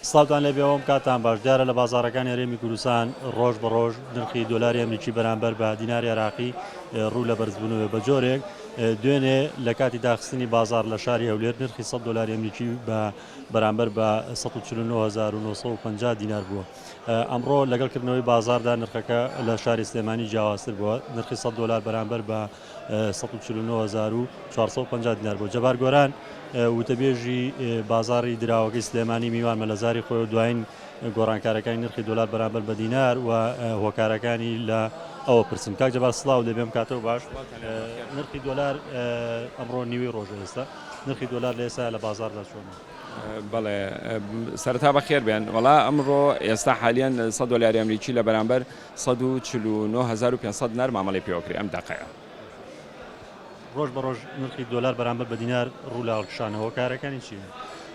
سڵاوتان لێبێوم کاتان باش دیارە لە بازارەکانی هەرێمی کوردستان ڕۆژ بە ڕۆژ نرخی دۆلاری ئەمریکی بەرامبەر بە دیناری عێراقی ڕوو لە بەرزبوونەوە بە جۆرێک دوێنێ لە کاتی داخستنی بازار لە شاری هەولێر نرخی 100 دلاری ئەمریکی بە بەرامبەر بە 194950 دینار بووە ئەمڕۆ لەگەڵ کردنەوەی بازاردا نرخەکە لە شاری سلێمانی جیاوازتر بووە نرخی 100 دلار بەرامبەر بە سەد و چل و نۆ هەزار و چوار سەد و پەنجا دینار بوو. جەبار گۆران، وتەبێژی بازاڕی دراوەکەی سلێمانی میوانمە لە زاری خۆی و دوایین گۆڕانکارەکانی نرخی دۆلار بەرامبەر بە دینار و هۆکارەکانی لە ئەوە پرسیم. کاک جەبار سڵاو لێ بێ بمکاتەوە باش. نرخی دۆلار ئەمڕۆ نیوەی ڕۆژە ئێستا نرخی دۆلار لە ئێستا لە بازاڕدا چۆنە؟ بەڵێ سەرەتا بەخێر بێن. وەڵا ئەمڕۆ ئێستا حالیەن سەد دۆلاری ئەمریکی لە بەرامبەر سەد و چل و نۆ هەزار و پێنج سەد دینار مامەڵەی پێوە کرێ ئەم دەقەیە. ڕۆژ بە ڕۆژ نرخی دۆلار بەرامبەر بە دینار ڕوو لە هەڵکشانە هۆکارەکانی چین؟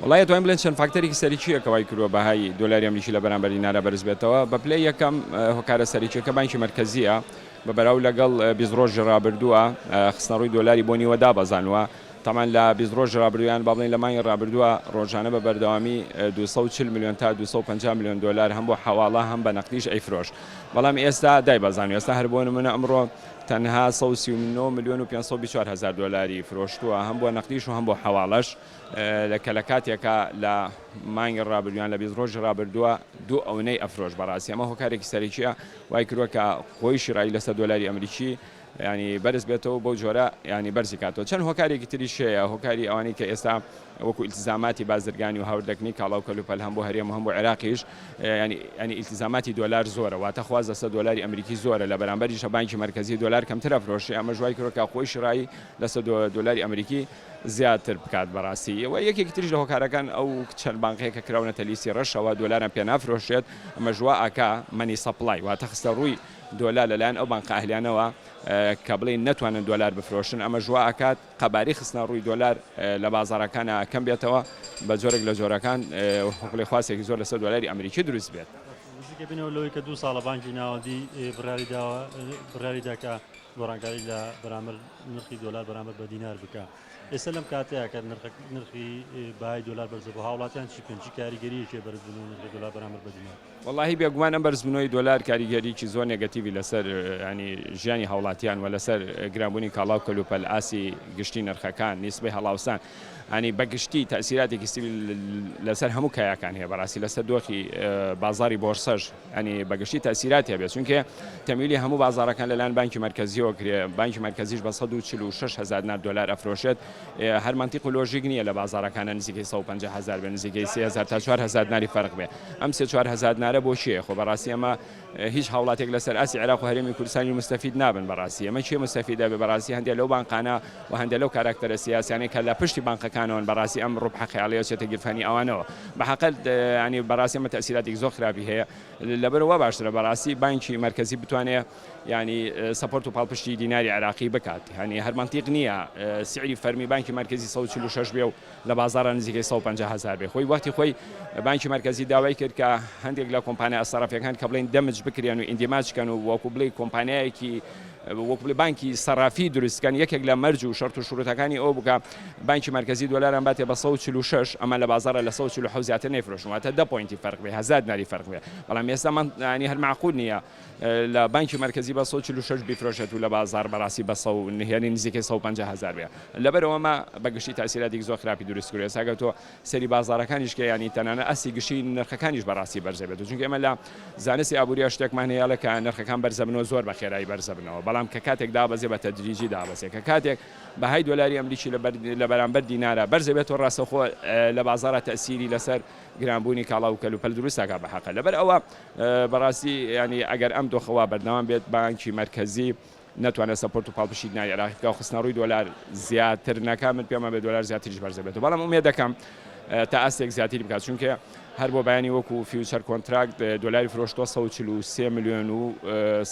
وەڵا ئەتوانین بڵێن چەند فاکتەرێکی سەرەکیە کە وای کردوە بەهای دۆلاری ئەمریکی لە بەرامبەر دینارا بەرز بێتەوە بە پلەی یەکەم هۆکارە سەرەکیەکە بانکی مەرکەزیە بە بەراو لەگەڵ بیست ڕۆژی ڕابردوە خستنەڕوی دۆلاری بۆ نیوە دابەزاندوە تەمان لە بیست ڕۆژی ڕابردوو یان با بڵێین لە مانگی ڕابردووە ڕۆژانە بە بەردەوامی دوو سەد و چل ملیۆن تا دوو سەد و پەنجا ملیۆن دۆلار هەم بۆ حەواڵە هەم بە نەقدیش ئەیفرۆشت بەڵام ئێستا دایبەزاند ئێستا هەر بۆ نموونە ئەمڕۆ تەنها سەد و سی و نۆ ملیۆن و پێنج سەد و بیست و چوار هەزار دۆلاری فرۆشتووە هەم بۆ نەقدیش و هەم بۆ حەواڵەش کە لە کاتێکا لە مانگی ڕابردوویان لە بیست ڕۆژی ڕابردووە دوو ئەونەی ئەفرۆش بەڕاستی ئەمە هۆکارێکی سەرەکیە وای کردووە کە خۆیشی ڕای لەسەر دۆلاری ئەمریکی یانی بەرز بێتەوە بەو جۆرە یانی بەرزی کاتەوە چەند هۆکارێکی تریش هەیە هۆکاری ئەوانەی کە ئێستا وەکو ئیلتزاماتی بازرگانی و هاوردەکنی کاڵا و کەلوپەل هەم بۆ هەرێم و هەم بۆ عێراقیش یانی یانی ئیلتزاماتی دۆلار زۆرە واتە خواست لەسەر دۆلاری ئەمریکی زۆرە لە بەرامبەریشە بانکی مەرکەزی دۆلار کەمتر ئەفرۆشێ ئەمەش وای کردوە کە خۆی شڕایی لەسەر دۆلاری ئەمریکی زیاتر بکات بەڕاستی و یەکێکی تریش لە هۆکارەکان ئەو چەند بانقەیە کە کراونەتە لیستی ڕەشەوە دۆلاریان پێ نافرۆشرێت ئەمەش وا ئەکا مەنی سەپڵای واتە خستە ڕووی دۆلار لەلایەن ئەو بانقە ئەهلیانەوە کە بڵێین نەتوانن دۆلار بفرۆشن ئەمەش وا ئەکات قەباری خستنە ڕووی دۆلار لە بازاڕەکانا کەم بێتەوە بە جۆرێک لە جۆرەکان بڵێ خواستێکی زۆر لەسەر دۆلاری ئەمریکی دروست بێت. نزیکە بینەوە لەوەی کە دوو ساڵە بانکی ناوەندی بڕیاری داوە بڕیاری داکە گۆڕانکاری لە بەرامبەر نرخی دۆلار بەرامبەر بە دینار بکە ئێستا لەم کاتەیە کە نرخ نرخی بای دۆلار بەرزە بۆ هاوڵاتیان چی بکەن چی کاریگەریەکی بەرزبوون و نرخی دۆلار بەرامبەر بە دینار وەڵاهی بێگومان ئەم بەرزبونەوەی دۆلار کاریگەریی زۆر نێگەتیڤی لەسەر یانی ژیانی هاوڵاتیان و لەسەر گرانبونی کاڵا و کەلوپەل ئاستی گشتی نرخەکان نیسبەی هەڵاوسان یانی بەگشتی تەئسیراتێکی سی لەسەر هەموو کایەکان هەیە بەڕاستی لەسەر دۆخی بازاڕی بۆرسەش یانی بەگشتی تەئسیراتی هەبێت چونکێ تەمویلی هەموو بازاڕەکان لەلایەن بانکی مەرکەزیەوە کرێ بانکی مەرکەزیش بە سەد و چل و شەش هەزار نار دۆلار ئەفرۆشێت هەر مەنتیق و لۆژیک نییە لە بازاڕەکانە نزیکەی سەد و پەنجا هەزار بێ نزیکەی سێ هەزار تا چوار هەزار دیناری فەرق بێ ئەم سێ چوار هەزار دینارە بۆ کێیە خۆ بەڕاستی ئەمە هیچ هاوڵاتێک لەسەر ئاستی عێراق و هەرێمی کوردستانی موستەفید نابن بەڕاستی ئەمە کێ موستەفید ئەبێ بەڕاستی هەندێک لەو بانقانە و هەندێک لەو کاراکتەرە سیاسیانەی کە لە پشتی بانقەکانەوەن بەڕاستی ئەم ڕوبحە خەیاڵیە چێتە گیرفانی ئەوانەوە بەحەقە یانی بەڕاستی ئەمە تەئسیراتێکی زۆر خراپی هەیە لەبەرەوە وا باشترە بەڕاستی بانکی مەرکەزی بتوانێ یانی سەپۆرت و پاڵپشتی دیناری عێراقی بکات یانی هەر مەنتیق نییە سعری فەرمی بانکی مەرکەزی سەد و چل و شەش بێ و لە بازاڕا نزیکەی سەد و پەنجا هەزار بێ خۆی وەختی خۆی بانکی مەرکەزی داوای کرد کە هەندێک لە کۆمپانیا سەرافیەکان کە بڵێن دەمج بکرێن و ئیندیماج کەن و وەکو بڵێ کۆمپانیایەکی وەکو بڵێ بانکی سەرافی دروست کەن یەکێک لە مەرج و شەرت و شروتەکانی ئەو بکە بانکی مەرکەزی دۆلاران باتێ بە 146 ئەمە لە بازارە لە 147 زیاتر نەیفرۆشن واتە 10 پۆینتی فەرق بێ هەزار دیناری فەرق بێ بەڵام ئێستا من هەر معقول نییە لە بانکی مەرکەزی بە سەد و چل و شەش بیفرۆشێت و لە بازاڕ بەڕاستی بە سەد و نهێنی نزیکەی سەد و پەنجا هەزار بێ لەبەرئەوە ئەمە بە گشتی تاسیراتێکی زۆر خراپی دروست کردووە ئێستا گەر تۆ سەیری بازاڕەکانیش کەی یانی تەنانەت ئاستی گشتی نرخەکانیش بەڕاستی بەرزە بێت و چونکە ئێمە لە زانستی ئابوورییە شتێکمان هەیە ئەڵێ کە نرخەکان بەرزە بن و زۆر بە خێرایی بەرزە بنەوە بەڵام کە کاتێک دابەزێ بە تەدریجی دابەزێ کە کاتێک بەهای دۆلاری ئەمریکی لە بەر لە بەرامبەر دینارا بەرزە بێت و ڕاستەوخۆ لە بازاڕا تەئسیری لەسەر گرانبوونی کاڵا و کەلوپەل دروست دەکا بە هەقە لەبەرئەوە بەڕاستی یانی ئەگەر ئەم دۆخە وا بەردەوام بێت، بانکی مەرکەزی نەتوانێت سەپۆرت و پاڵپشتی ناوی عێراقی بکات و خستنەڕووی دۆلار زیاتر نەکات، من پێم وابێت دۆلار زیاتریش بەرز دەبێتەوە، بەڵام ئومێد دەکەم تا ئاستێک زیاتری بکات، چونکە هەر بۆ بەیانی وەکو فیوچەر کۆنتراکت دۆلاری فرۆشتووە سەد و چل و سێ ملیۆن و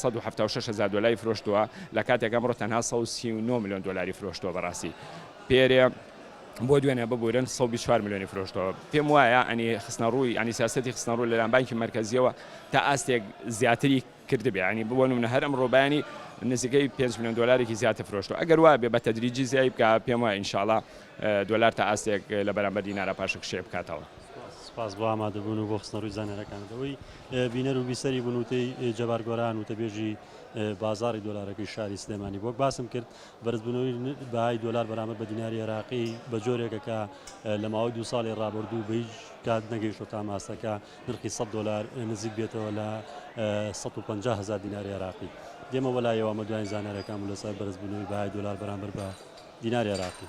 سەد و حەفتا و شەش هەزار دۆلاری فرۆشتووە، لە کاتێک ئەمڕۆ تەنها سەد و سی و نۆ ملیۆن دۆلاری فرۆشتووە، بەڕاستی پێرێ. بۆ دوێنێ ببورن سەد و بیست و چوار ملیۆنی فرۆشتەوە پێم وایە ئەنی خستنە ڕووی ئەنی سیاسەتی خستنە ڕوو لەلایەن بانکی مەرکەزیەوە تا ئاستێک زیاتری کردبێ ئەنی بۆ نمونە هەر ئەمڕۆ بەیانی نزیکەی پێنج ملیۆن دۆلارێکی زیاتر فرۆشتەوە ئەگەر وا بێ بە تەدریجی زیای بکا پێم وایە ئینشاڵا دۆلار تا ئاستێک لە بەرامبەر دینارا پاشەکشێ بکاتەوە. سپاس بۆ ئامادەبوون و بۆ خستنە ڕووی زانیاریەکانتەوەی بینەر و بیسەری بنووتەی جەبار گۆران وتەبێژی بازاری دۆلارەکەی شاری سلێمانی بۆک باسم کرد بەرزبوونەوەی بەهای دۆلار بەرامبەر بە دیناری عێراقی بە جۆرێکە کە لە ماوەی دوو ساڵی ڕابردوو بە هیچ کات نەگەیشتە تا ماستەکە نرخی 100 دۆلار نزیک بێتەوە لە 150 هزار دیناری عێراقی دێمە وەلایەوە ئەمە دوایین زانیارەکان بوو لەسەر بەرزبوونەوەی بەهای دۆلار بەرامبەر بە دیناری عێراقی.